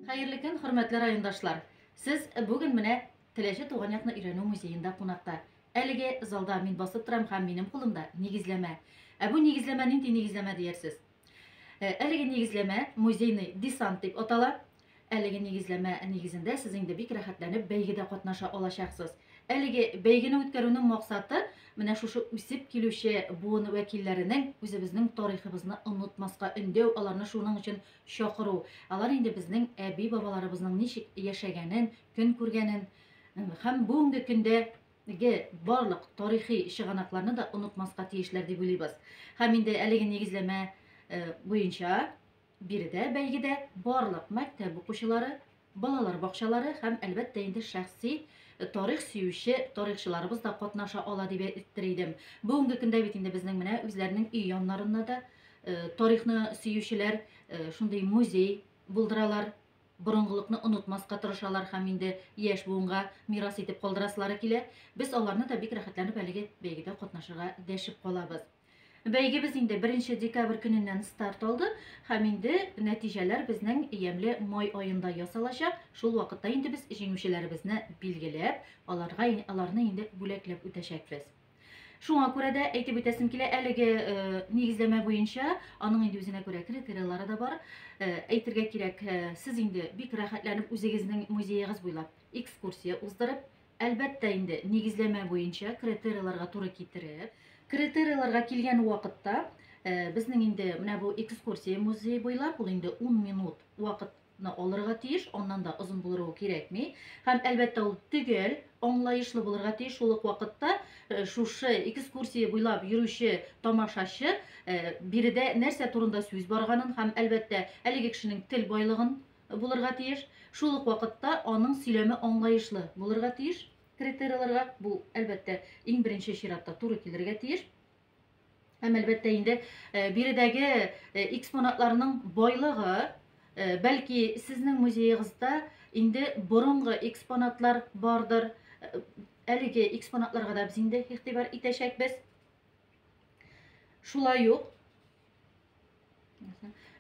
Хәерле көн, хөрмәтле райондашлар! Сез бүген менә Теләче туган якны өйрәнү музеенда кунакта. Әлеге залда мин басып торам һәм минем кулымда нигезләмә. Ә бу нигезләмә нинди нигезләмә диярсез? Әлеге нигезләмә музейный десант дип атала. Әлеге нигезләмә нигезендә сез инде бик рәхәтләнеп бәйгедә катнаша алачаксыз. Әлеге бәйгене үткәрүнең максаты, менә шушы үсеп килүче буын вәкилләренең үзебезнең тарихыбызны онытмаска өндәү, аларны шуның өчен чакыру. Алар инде безнең әби-бабаларыбызның ничек яшәгәнен, көн күргәнен һәм бүгенге көндәге барлык тарихи чыганакларны да онытмаска тиешләр дип уйлыйбыз. Һәм инде әлеге нигезләмә буенча Биредә бәйгедә барлык мәктәп укучылары, балалар бакчалары һәм, әлбәттә инде, шәхси тарих сөюче тарихчыларыбыз да катнаша ала дип әйттер идем. Бүгенге көндә бит инде безнең менә үзләренең өй яннарында да тарихны сөючеләр шундый музей булдыралар, борынгылыкны онытмаска тырышалар һәм инде яшь буынга мирас итеп калдырасылары килә. Без аларны да бик рәхәтләнеп әлеге бәйгедә катнашырга дәшеп калабыз. Бәйгебез инде беренче декабрь көненнән старт алды һәм инде нәтиҗәләр безнең ямьле май аенда ясалачак. Шул вакытта инде без җиңүчеләребезне билгеләп, аларга аларны инде бүләкләп үтәчәкбез. Шуңа күрә дә әйтеп үтәсем килә, әлеге э, нигезләмә буенча аның инде үзенә күрә критериялары да бар. Э, әйтергә кирәк, э, сез инде бик рәхәтләнеп үзегезнең музеегыз буйлап экскурсия уздырып, Әлбәттә инде, нигезләмә буенча критерийларга туры китереп. Критерийларга килгән вакытта, безнең инде менә бу экскурсия музей буйлап, ул инде 10 минут вакыт ны алырга тиеш, аннан да озын булыру кирәкми. Һәм әлбәттә ул төгәл, аңлаешлы булырга тиеш. Шул ук вакытта э, шушы экскурсия буйлап йөрүче тамашачы э, биредә нәрсә турында сүз барганын һәм әлбәттә әлеге кешенең тел байлыгын булырга тиеш, шул ук вакытта аның сөйләме аңлаешлы булырга тиеш. Критерийларга бу, әлбәттә, иң беренче чиратта туры килергә тиеш. Һәм, әлбәттә, инде биредәге экспонатларның байлыгы, бәлки, сезнең музеегызда инде борынгы экспонатлар бардыр, әлеге экспонатларга да без инде игътибар итәчәкбез. Шулай ук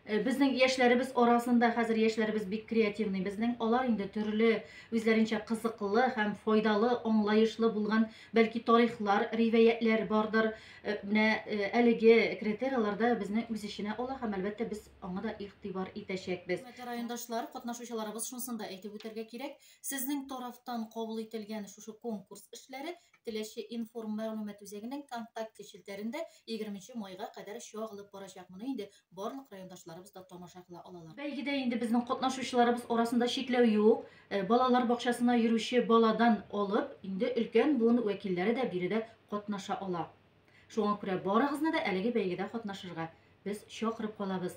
Э, безнең яшьләребез арасында хәзер яшьләребез бик креативный безнең алар инде төрле үзләренчә кызыклы һәм файдалы аңлаешлы булган бәлки тарихлар ривәятләр бардыр э, менә э, әлеге критерияләрдә безне үз эченә ала һәм әлбәттә без аңа да игътибар итәчәкбез райондашлар катнашучыларыбыз шунысын да әйтеп үтәргә кирәк сезнең тарафтан кабул ителгән шушы конкурс эшләре Теләче информ мәгълүмат үзәгенең контакте челтәрендә егерменче майга кадәр чагылып барачак. Моны инде барлык райондашларыбыз да тамаша кыла алалар. Бәйгедә инде безнең катнашучыларыбыз арасында чикләү юк. Э, балалар бакчасына йөрүче баладан алып, инде өлкән буын вәкилләре дә биредә катнаша ала. Шуңа күрә барыгызны да әлеге бәйгедә катнашырга без чакырып калабыз.